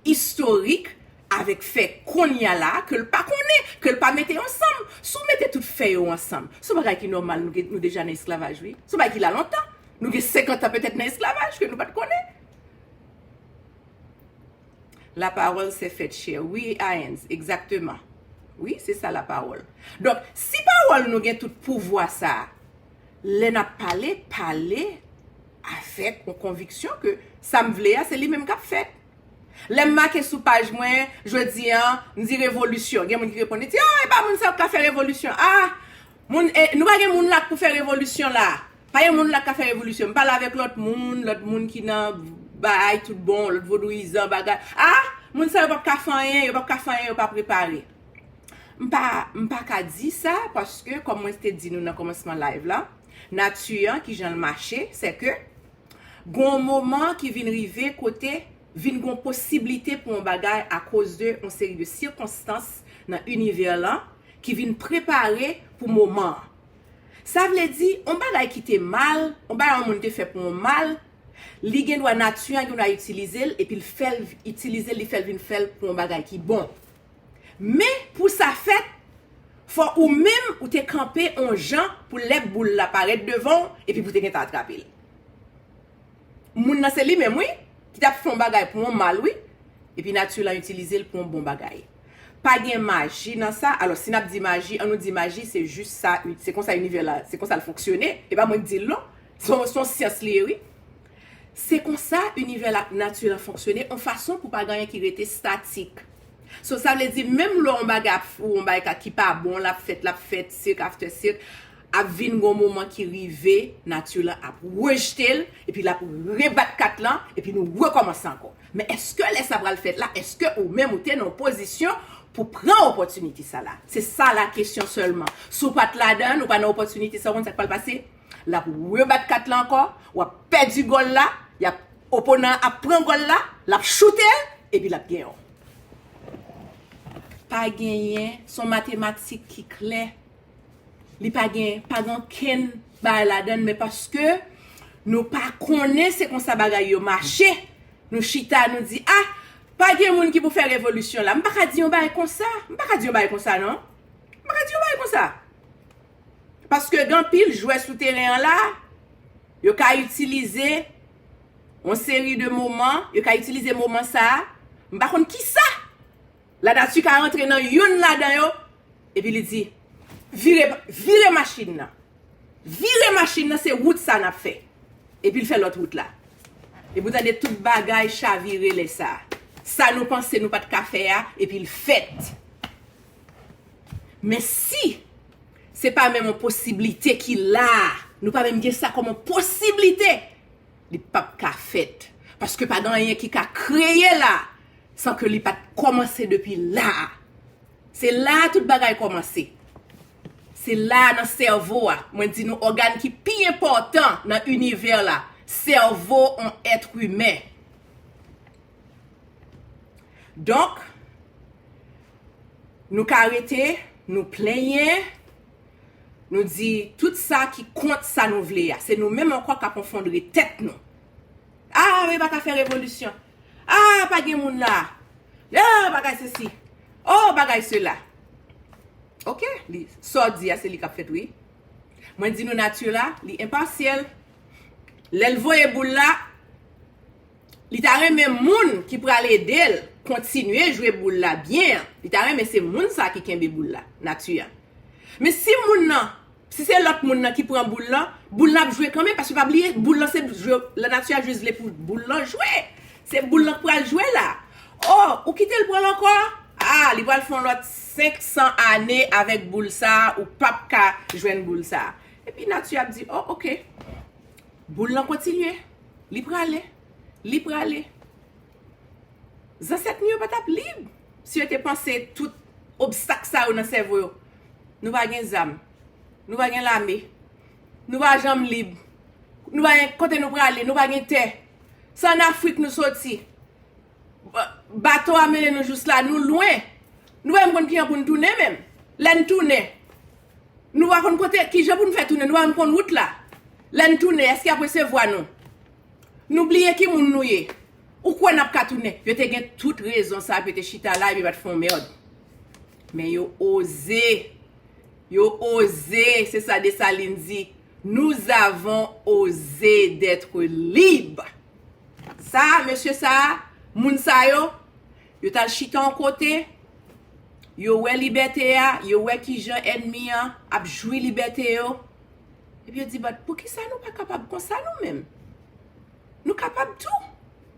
istorik avèk fè konnya la kel pa konnen, kel pa mete ansanm. Si w mete tout fè yo ansanm, son bagay ki nòmal nou gen nou deja nan esklavaj wi. Son bagay ki la lontan. Nou gen 50 an petèt nan esklavaj ke nou pat konnen. La parole s'est faite chair wi Aens egzakteman wi se sa la parole donk si parole nou gen tout pouvwa sa lè nap pale pale avèk yon konviksyon ke sam vle a se li menm kap fèt lèm make sou paj mwen jodi an mdi revolisyon gen moun ki reponn li di a epa moun sa yo pka fè revolisyon a Moun eh nou pa gen moun la k pou fè revolisyon la pa gen moun la k ka fè revolisyon m pale avèk lòt moun lòt moun ki nan baay tout bon lòt vodouyizan bagay ah moun sa yo pap ka fè anyen yo pap ka fè anyen yo pa prepare m pa m pa ka di sa paske kòm mwen te di nou nan kòmansman live la nati an kijan l mache sèke gon moman ki vin rive kote vin gon posiblite pou on bagay a koz de on seri de sikonstans nan inivè lan ki vin prepare pou moman an. Sa vle di, on bagay ki te mal, on bagay on moun te fè pou on mal, li gen dwa nati an gen dwa itilize l epi l fè l itilize l li fè l vin fè l pou on bagay ki bon. Men, pou sa fèt, fò ou menm ou te kanpe on jan pou lè boul la parèt devan w epi pou te gentan atrape l. Moun nan se li menm wi, ki tap fè yon bagay pou yon mal wi, epi nati lan itilize l pou yon bon bagay. Pa gen maji nan sa, alò si nap di maji, an nou di maji se jis sa, se konsa inivè la, se konsa l fonksyone, e pa mwen k di l non, se yon syans li ye wi. Se konsa inivè la ak nati lan fonksyone, yon fason pou pa gen anyen ki rete statik. So sa vle di menm lè yon bagay ap, yon bagay ki pa bon la ap fèt, la ap fèt, sik aftè sik, Ap vin gon moman ki rive nati lan ap rejete l epi l ap rebat kat lan epi nou rekòmanse ankò. Men èske lè sa pral fèt la èske ou menm ou te nan pozisyon pou pran opòtinite sa la? Se sa la kesyon sèlman. Si w pa t ladan l, ou pa nan opòtinite sa w konn sa k pral pase? L ap rebat kat lan ankò, w ap pèdi gòl la, y ap, oponan an ap pran gòl la, l ap choute l epi l ap gen yon. Pa genyen, s on matematik ki klè. Li pa gen pa gen ankenn bagay ladann men paske nou pa konnen se konsa bagay yo mache nou chita nou di a pa gen moun ki pou fè revolisyon la m pa ka di yon bagay konsa m pa ka di yon bagay konsa non m pa ka di yon bagay konsa paske gen anpil jwè sou teren an la yo ka itilize yon seri de moman yo ka itilize moman sa m pa konn kisa Lanati ka rantre nan youn ladan yo, epi li di, Vire, vire machin nan. Vire machin nan, se wout sa a n ap fè. Epi l fè lòt wout la. Epi ou tande tout bagay chavire lè sa a. Sa nou panse nou pa t ka fè a, epi l fèt. Men si se pa menm yon posiblite ki la a, nou pa menm gen sa kòm yon posiblite, li pap ka fèt. Paske pa gen anyen ki ka kreye la a. San ke li pa t kòmanse depi la a. Se la a tout bagay kòmanse. Se la a nan sèvo a. Mwen di nou ògàn ki pi enpòtan nan inivè la, sèvo on èt imen. Donk, nou ka rete, nou plenyen, nou di tout sa ki kont sa nou vle a. Se nou menm ankò k ap onfondre tèt nou. Aah yo pa ka fè revolisyon. Aah pa gen moun la. Aah bagay se si. Oh bagay se la. Ok. Sa w di a se li k ap fèt wi. Mwen di nou nati la li enpasyèl. Lè l voye boul la, li ta renmen moun ki pral ede l kontinye jwe boul la byen an. Li ta renmen se moun sa ki kenbe boul la. Nati a. Men si moun nan. Si se lòt moun nan ki pran boul lan, boul lan ap jwe kanmenm paske pa bliye boul lan se jwe lanati a jis vle pou boul lan jwe. Se boul lan k pral jwe la. O, ou kite l pran l ankò? A, li pral fè yon lòt 500 ane avèk boul sa a, ou p ap ka jwenn boul sa a. Epi nati ap di, o, ok. Boul lan kontinye. Li prale. Li prale. Zansèt nou yo pa t ap lib. Si yo te panse tout obstak sa yo nan sèvo yo, nou pa gen zam, nou pa gen lame, nou pa janm lib, nou pa gen kote nou prale, nou pa gen tè. Se an Afrik nou soti. Bato a mennen nou jous la, nou lwen. Nou pa menm konn ki jan pou nou tounen menm. Lè nou tounen, nou pa konn kote, ki jan pou nou fè tounen, nou pa menm konn wout la. Lè nou tounen, èske y ap resevwa nou? Nou bliye ki moun nou ye. Ou kwè nap ka tounen? Yo te gen tout rezon sa pou yo te chita la epi yo pat fè yon merd. Men yo oze. Yo oze, se sa Dessalines di, nous avons osé d'etre libres. Sa, mesye sa, moun sa yo, yo tal chita yon kote, yo wè libète a, yo wè kijan ènmi an ap jwi libète yo, epi yo di, bat, poukisa nou pa kapab konsa nou menm? Nou kapab tou.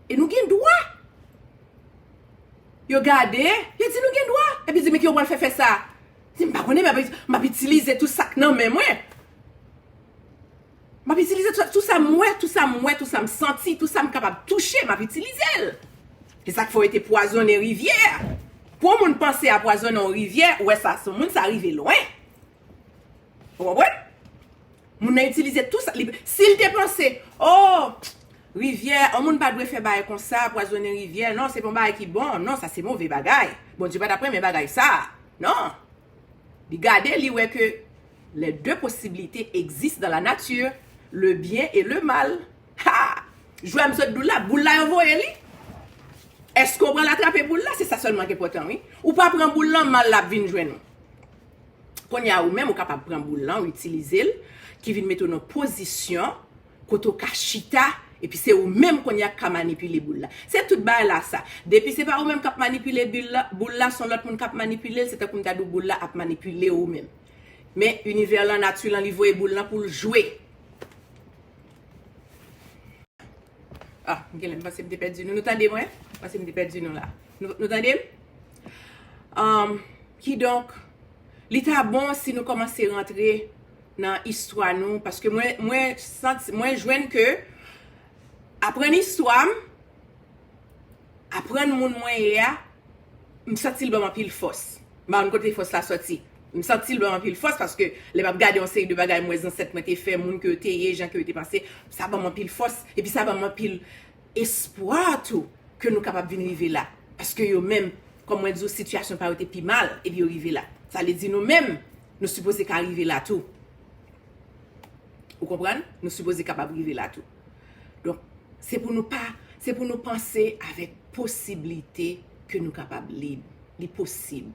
E nou gen dwa. Yo gade, yo di nou gen dwa. Epi di men ki yo pral fè fè sa. Di m pa konnen men m ap itilize tou sa k nan men mwen. M ap itilize tou sa, tou sa m wè, tou sa m wè, tou sa m santi, tou sa m kapab touche, m ap itilize l. E sa k fè yo te pwazonnen rivyè a. Pou yon moun panse a pwazonnen yon rivyè, ou wè sa sou moun, sa rive lwen. Ou konprann? Moun nan itilize tou sa li si l te panse oh rivyè an moun pa dwe fè bagay konsa pwazonnen rivyè non se pa yon bagay ki bon non sa se move bagay Bondye pa t ap renmen bagay sa a non li gade li wè ke lè de posiblite egzis dan la nati le byen e le mal ha jwè m sot di w la boul la yo voye li èske w pral atrape boul la se sa sèlman ki enpòtan wi ou pa pran boul lan mal la ap vin jwenn ou. Kounye a ou menm ou kapab pran boul lan, ou itilize l, ki vin mete w nan pozisyon kote w ka chita epi se ou menm kounye a ki ka manipile boul la. Se tout bagay la sa. Depi se pa ou menm k ap manipile boul la, se yon lòt moun k ap manipile l, se tankou m ta di w boul la ap manipile ou menm. Men inivè lan, nati lan li voye boul lan pou l jwe. Ah, m genlè m panse m te pèdi nou. Nou tande mwen? M panse m te pèdi nou la. Nou, nou tande m? Um, kidonk, li ta bon si nou kòmanse rantre nan istwa nou, paske mwen, mwen santi, mwen jwenn ke aprann istwa m, aprann moun mwen ye a, m santi l ban m anpil fòs. M pa konn kote fòs la sòti. M santi l ban m anpil fòs paske lè m ap gade yon seri de bagay m wè zansèt mwen te fè, moun ke yo te ye, jan ke yo te panse, sa ban m anpil fòs. Epi sa ban m anpil espwa tou ke nou kapab vin rive la. Paske yo menm, kòm mwen di w sitiyasyon pa yo te pi mal epi yo rive la. Sa vle di nou menm, nou sipoze ka rive la tou. Ou konprann? Nou sipoze kapab rive la tou. Donk, se pou nou pa, se pou nou panse avèk posiblite ke nou kapab lib. Li posib.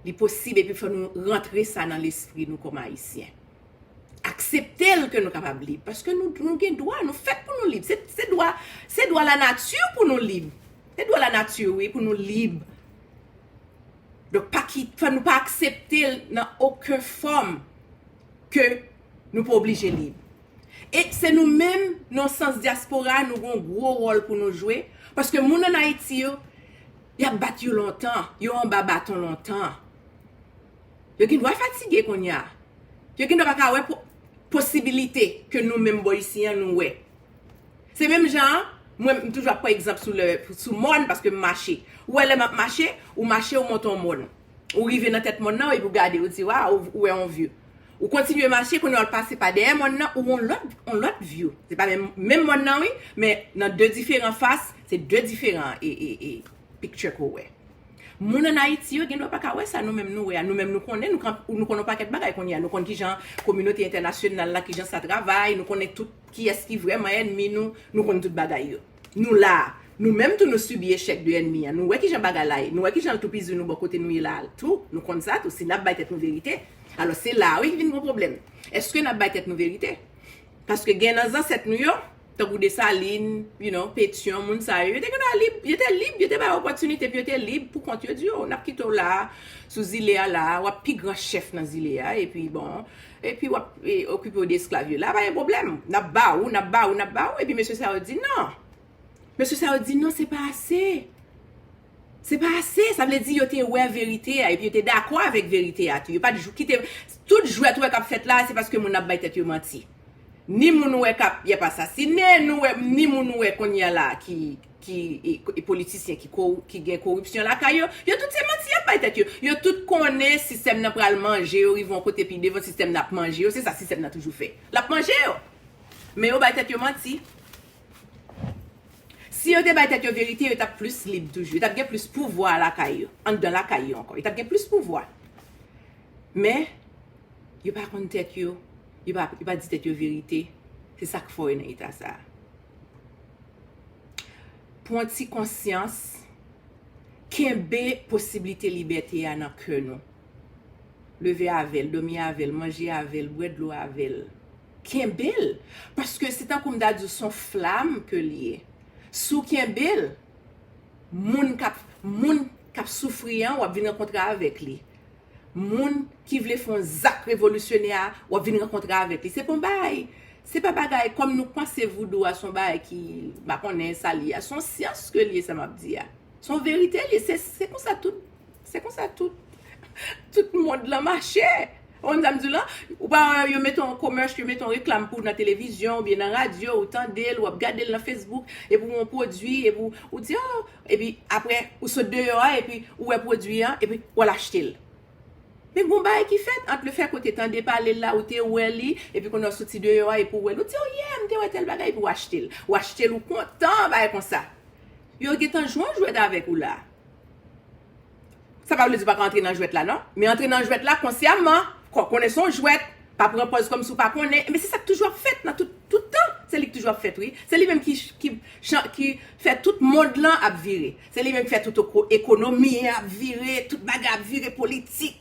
Li posib epi fò nou rantre sa nan lespri nou kòm Ayisyen. Aksepte l ke nou kapab lib. Paske nou gen dwa, nou fèt pou nou lib. Se dwa, se dwa lanati pou nou lib. Se dwa lanati wi pou nou lib. Donk, pa ki, fò nou pa aksepte l nan oken fòm ke nou pa oblije lib. E se nou menm, nan sans dyaspora, nou gen yon gwo wòl pou nou jwe, paske moun ann Ayiti yo, y ap bat yo lontan, yo anba baton lontan. Yo gen dwa fatige kounye a. Yo gen dwa pa ka wè posibilite ke nou menm bò isi an nou wè. Se menm jan an, mwen m toujou ap pran egzanp sou lè, sou mòn paske m mache. Ou wè lè m ap mache, ou mache ou monte yon mòn. Ou rive nan tèt mòn nan epi ou gade ou di waw ou wè yon view. Ou kontinye mache kounye a ou pase pa dèyè mòn nan ou wè yon lòt yon lòt view. Se pa menm menm mòn nan wi men nan 2 diferan fas, se 2 diferan e e e picture ke w wè. Moun an Ayiti yo gendwa pa ka wè sa nou menm nou wè a. Nou menm nou konnen nou kan nou konnen yon pakèt bagay kounye a. Nou konn kijan kominote entènasyonal la kijan sa travay, nou konnen tout kiyès ki vrèman ènmi nou, nou konn tout bagay yo. Nou la a. Nou menm tou nou sibi echèk de ènmi an. Nou wè ki jan bagay la ye. Nou wè ki jan l toupizi nou bò kote nou ye la a tou. Nou konn sa tou. Si n ap bay tèt nou verite. Alò, se la a wi ki vin gwo pwoblèm. Èske n ap bay tèt nou verite? Paske gen nan zansèt nou yo, tankou Desalin, you know, Petyon, moun sa yo, yo te gen dwa lib. Yo te lib. Yo te bay opòtinite pou yo te lib pou kont yo. Yo di yo, n ap kite w la a, sou zile a la a. W ap pi gran chèf nan zile a. Epi, bon. Epi w ap okipe w de esklav yo. La pa gen pwoblèm. N ap ba ou, n ap ba ou, n ap ba ou. Epi mesye sa yo di nan. Mesye sa yo di nan se pa ase. Se pa ase. Sa vle di yo te wè verite a. Epi yo te dakò avèk verite a tou. Yo pa t jou kite. Tout jwèt ou wè k ap fèt la se paske moun ap bay tèt yo manti. Ni moun ou wè k ap y ap asasinen. Ni moun ou wè kounye a la ki. ki politisyen ki gen koripsyon lakay yo, yo tout se manti y ap bay tèt yo. Yo tout konnen sistèm nan pral manje yo rive yon kote pi devan sistèm nan ap manje yo, se sa sistèm nan toujou fè. L ap manje yo. Men yo bay tèt yo manti. Si yo te bay tèt yo verite, yo t ap plis lib toujou. Yo t ap gen plis pouvwa lakay yo. Anndan lakay yo ankò. Yo t ap gen plis pouvwa. Men, yo pa konn tèt yo. Yo pa di tèt yo verite. Se sa k fò yo nan eta sa a. Pwan ti konsyans, kenbe posiblite libète a nan kè nou. Leve avè l, dòmi avè l, manje avè l, bwè dlo avè l. Kenbe l! Paske se tankou m ta di w s on flam ke l ye. Si w kenbe l, moun k ap soufri an w ap vin rankontre avèk li. moun ki vle fon zak revolisyonè a wap vin rankontre avèk li se pon bagay se pa bagay kòm nou panse voudou a son bagay ki pa konnen sa li a son syans ke li sa map di a son verite li se se konsa tout se konsa tout tout mond lan mache ou konn sam di lan ou pa wè yo mete yon komèch yo mete yon reklam pou nan televizyon oubyen nan radyo ou tandel wap gadel nan fesbouk epi yon pwodwi epi ou di oh Epi aprè ou sot deyò a epi ou wè pwodwi an epi ou al achte l. Men gon bagay ki fèt ant lefèke ou te tande pale l la, ou te wè li, epi kounye a ou soti deyò a epi ou wè l. Ou di oh yeah m te wè tèl bagay epi ou achte l. Ou achte l ou kontan bagay konsa. Yo gentan jwe yon jwèt avèk ou la. Sa pa vle di ou pa ka antre nan jwèt la non. Men antre nan jwèt la konsyaman, kò konnen se yon jwèt, pa pran pòz kòm si ou pa konnen. Enben se sa k toujou ap fèt nan tout, tout tan. Se li k toujou ap fèt wi. Se li menm ki, ki chan, ki fè tout mond lan ap vire. Se li menm ki fè tout oko, ekonomi an ap vire, tout bagay ap vire, politik,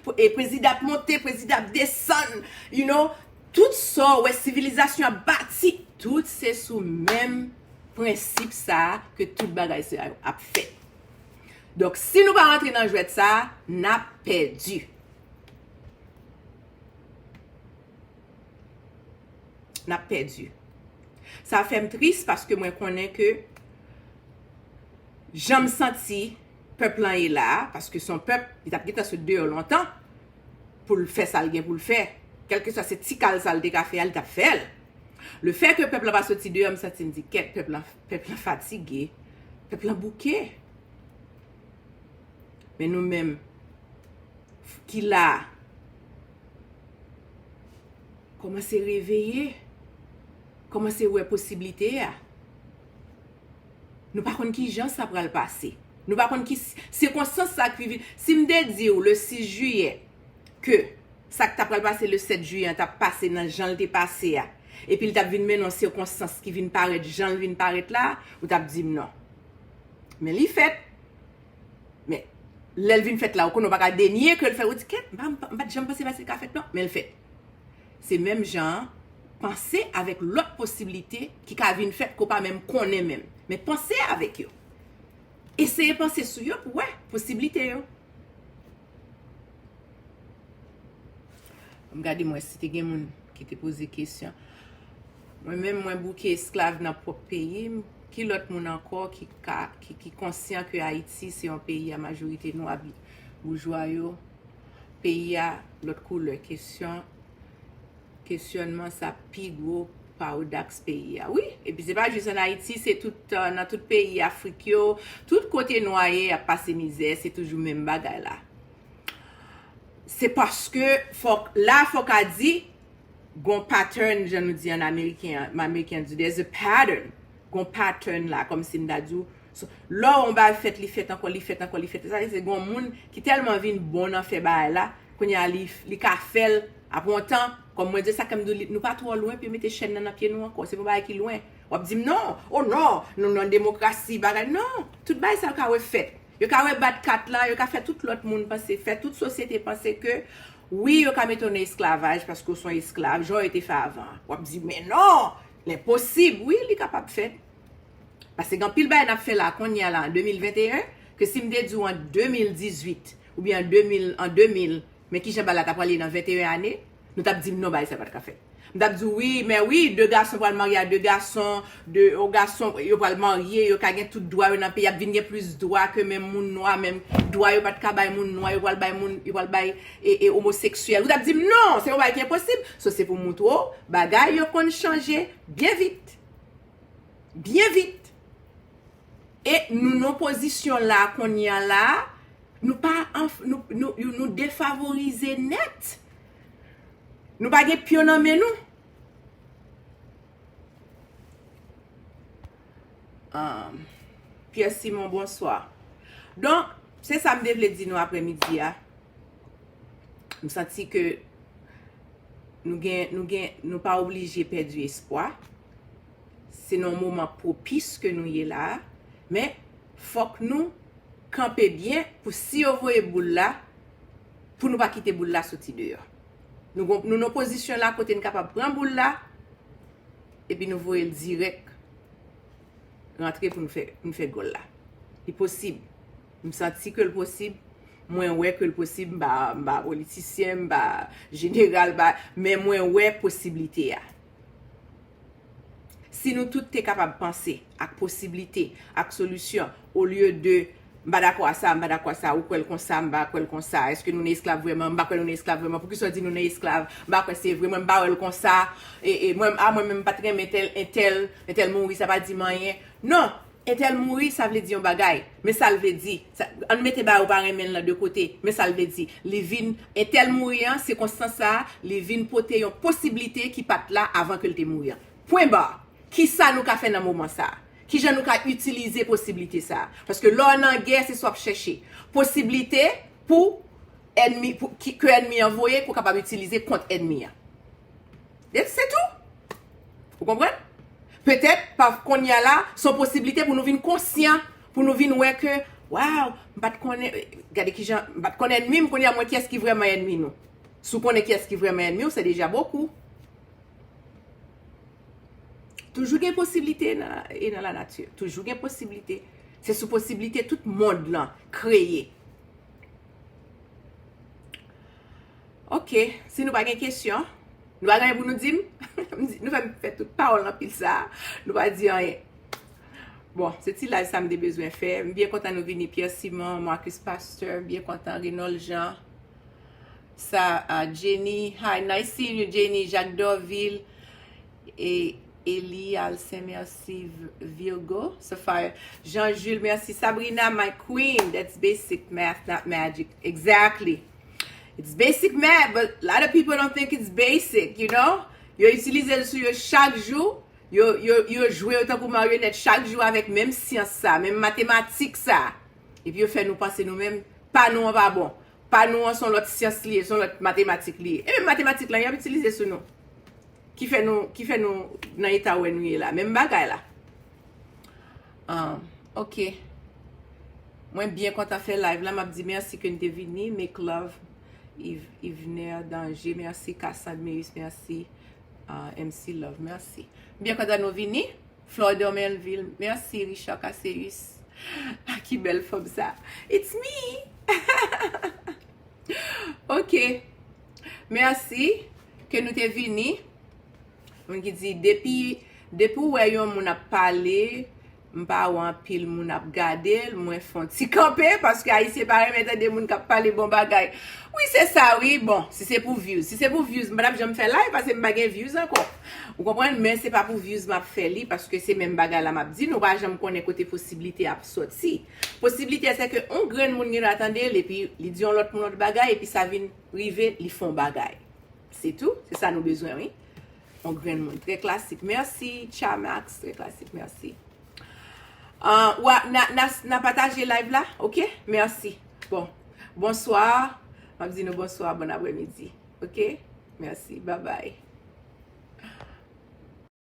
pou e prezidan ap monte, prezidan ap desann, you know. Tout sa ou wè sivilizasyon ap bati, tout se sou menm prensip sa a ke tout bagay sa yo ap fèt. Donk si nou pa rantre nan jwèt sa a, n ap pèdi. N ap pèdi. Sa fè m tris paske mwen konnen ke jan m santi pèp lan ye la a, paske s on pèp ki t ap gen tan sot deyò lontan pou l fè sa l gen pou l fè. Kèlkeswa se ti kal sa l te ka fè a, li t ap fè l. Le fè ke pèp la pa soti deyò, m santi m di kèt, pèp la, pèp la fatige, pèp la bouke. Men nou menm, ki la, kòmanse reveye, kòmanse wè posiblite a. Nou pa konn ki jan sa pral pase. Nou pa konn ki sikonstans sa ki vin. Si m te di ou le 6 jiyè, ke sa k ta pral pase le 7 jiyè an t ap pase nan jan l te pase a, epi l t ap vin mennen yon sikonstans ki vin parèt jan l vin parèt la a, ou t ap di m non. Men li fèt. Men, lè l vin fèt la a, ou konnen ou pa ka denye ke l fèt. Ou di, kèt, m pa t janm panse sa te ka fèt non. Men l fèt. Se menm jan an, panse avèk lòt posiblite ki ka vin fèt ke w pa menm konnen menm. Men panse avèk yo. Eseye panse sou yo pou w wè posiblite yo. M gade m wè si te gen moun ki te poze kesyon. Mwen menm mwen bouke esklav nan pwòp peyi m. Ki lòt moun ankò ki ka, ki konsyan ke Ayiti se yon peyi a majorite nwa boujwa yo, peyi a lòt koulè. Kesyon. Kesyònman sa pi gwo paradaks peyi a wi. Epi se pa jis an Ayiti, se tout nan tout peyi Afrik yo, tout kote nwa ye y ap pase mizè, se toujou menm bagay la. Se paske fòk, la a fòk a di gon pattern jan nou di an ameriken an, ameriken an di there's a pattern, gon pattern la kòmsi m ta di w. So, lò on bagay fèt li fèt ankò, li fèt ankò, li fèt, sa vle di se gen on moun ki tèlman vin bon nan fè bagay la, kounye a li, li ka fè l, apre on tan, kòm mwen di l, sa kè m di w li, nou pa twò lwen pou yo mete chèn nan nan pye nou ankò, se pa on bagay ki lwen. W ap di m non, o non, nou nan demokrasi, bagay, non, tout bagay sa yo ka refèt. Yo ka rebat kat la, yo ka fè tout lòt moun panse, fè tout sosyete panse ke, wi yo ka mete w nan esklavaj paske w s on esklav, jan yo te fè avan an. W ap di men non, l enposib, wi li kapab fèt. Paske gen anpil bagay n ap fè la kounye a la an 2021 ke si m te di w an 2018 oubyen an 2000 an 2000 men ki jan bagay la ta pral ye nan 21 ane nou t ap di m non bagay sa pa t ka fèt. M t ap di w wi men wi de gason pral marye a de gason de yon gason yo pral marye yo ka gen tout dwa yo nan peyi y ap vin gen plis dwa ke menm moun nwa menm dwa yo pa t ka bay moun nwa yo pral bay moun yo pral bay e e omoseksyèl ou t ap di m non se yon bagay ki enposib so se pou m moutre w bagay yo konn chanje byen vit. byen vit. E nou nan pozisyon la kounye a la, nou pa an, nou defavorize nèt. Nou pa gen pyon nan men nou. Pierre Simon, bonswa. Donk, se sa m te vle di nou apremidi a. M santi ke nou gen, nou gen, nou pa oblije pèdi espwa. Se nan yon moman pwopis ke nou ye la a. Men, fòk nou kanpe byen pou si yo voye boul la, pou nou pa kite boul la soti deyò. Nou gon, nou nan yon pozisyon la kote n kapab pran boul la, epi nou voye l dirèk rantre pou n fè, pou n fè gòl la. Li posib. M santi ke l posib, mwen wè ke l posib, m pa politisyen, m pa jeneral, men mwen wè posiblite a. Si nou tout te kapab panse ak posiblite, ak solisyon, olye de m pa dakò a sa, m pa dakò a sa, ou kwè l konsa, m pa kwè l konsa, eske nou nan esklav vreman, m pa kwè nou nan esklav vreman, poukisa w di nou nan esklav, m pa kwè se vre, mwen m pa wè l konsa, a mwen menm m pa t renmen tèl, entèl, entèl mouri sa pa di m anyen. Non! Entèl mouri sa vle di yon bagay, men sa l vle di, sa, ann mete ba yo pa renmen l lan de kote, men sa l vle di, li vin, entèl mouri an, sikonstans sa a, li vin pote yon posiblite ki pa t la avan ke l te mouri an. Pwen ba! Ki sa nou ka fè nan moman sa a? Ki jan nou ka itilize posiblite sa a? Paske lè w nan gè, se sa w ap chèche. Posiblite pou ènmi, pou, ki, ke ènmi an voye, ke w kapab itilize kont ènmi an. That's it tou. Ou konprann? Petèt, pa konye a la, se yon posiblite pou nou vin konsyan, pou nou vin wè ke, waw, m pa t konnen, gade ki jan, m pa t konn ènmi m, kounye a m wè kiyès ki vrèman ènmi nou. Si w konnen kiyès ki vrèman ènmi w, se deja bokou. Toujou gen posiblite nan, e nan la nati. Toujou gen posiblite. Se sou posiblite tout mond lan kreye. Ok, si nou pa gen kesyon, nou pa gen anyen pou nou di m? Nou fè m fè tout pawòl anpil sa a, nou pa di anyen. Bon, se ti live sa m te bezwen fè. M byen kontan nou vini, Pierre Simon, Marcus Pasteur, m byen kontan, Renold Jean, sa a, Jenny, hi, nice seeing you Jenny, Jacques Dorvil, e Elie Alcin, merci, Virgo, Sapphire, Jean Jules, merci, Sabrina, my queen, that's basic math, not magic, exactly! It's basic math, but a lot of people don't think it's basic, you know? Yo itilize l sou yo chak jou, yo, yo, yo jwe yo tankou marionèt chak jou avèk menm syans sa, menm matematik sa. Epi yo fè nou panse nou menm, pa nou an pa bon. Pa nou an son lòt syans li ye, son lòt matematik li ye. E menm matematik la, y ap itilize sou nou. Ki fè nou, ki fè nou nan eta wè nou ye la. Menm bagay la. Ahh ok Mwen byen kontan fè live la map di merci ke n te vini make love Yvener Danger merci Cassandre Meyis merci MC Love merci m byen kontan nou vini Flore Dormelvil merci Richard Casseus ahh ki bèl fanm sa it's me ahh ok merci ke nou te vini. Moun ki di depi depi ou wè yon moun ap pale m pa wè anpil moun ap gade l mwen fon ti kanpe paske ayisyen pa renmen tande moun kap pale bon bagay wi se sa wi bon si se pou vyouz si se pou vyouz m pa tap janm fè live paske m pa gen vyouz ankò ou konprann men se pa pou vyouz map fè li paske se menm bagay la map di nou pa janm konnen kote posiblite ap soti posiblite se ke yon grenn moun gen dwa tande l epi li di yon lòt moun yon lòt bagay epi sa vin rive li fon bagay. Se tou, se sa nou bezwen wi. On grenn moun trè klasik. Merci Chamax, trè klasik, merci. Wa na pataje live la, ok? Merci. Bon, bonsoir. Map di nou bonsoir, bon apremidi. Ok? Merci, bye bye.